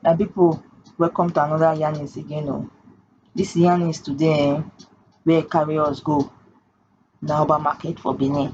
my people welcome to another yarnings again oh this yarnings today eh, where carry us go na oba market for benin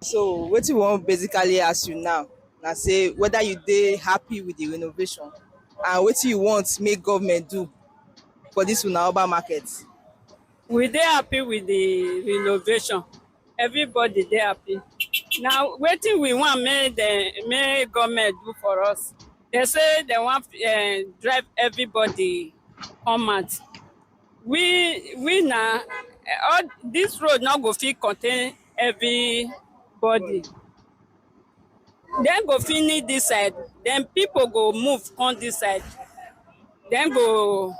So wetin we wan basically ask you now na say whether you dey happy with the renovation and wetin you want make government do for this una urban market. We dey happy with the renovation. Everybody dey happy. Na wetin we want make dem make government do for us. Dem say dem wan um drive everybody come out. we we na eh, all this road no go fit contain everybody dem go finish this side then people go move come this side dem go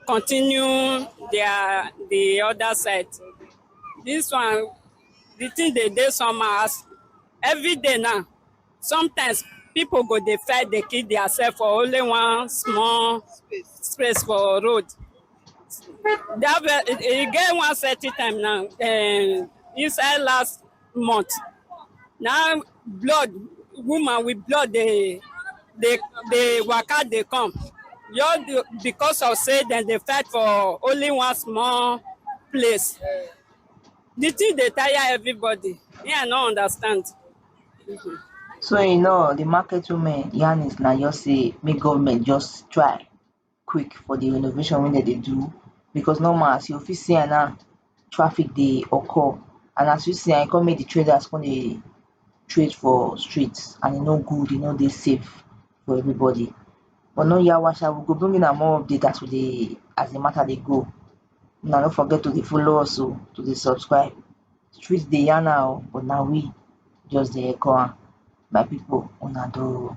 continue their the other side this one the thing dey dey somehow as every day now Sometimes pipo go dey fight dey kill diasef for only one small space for road. E get one certain time na um inside last month na im blood woman wit blood dey dey dey waka dey come just because of sey dem dey fight for only one small place. Di tin dey tire everybody me I no understand. So in all di market women yarn is na just sey make government just try quick for di renovation wey dem dey do becos normal as you fit see am now traffic dey occur and as you see am e come make di traders come dey trade for street and e no good e no dey safe for everybody but no yawa sha we go bring una more update as we dey as di mata dey go una no forget to dey follow us oh to dey subscribe Street dey yarn her oh but na we just dey echo am my people una do oh.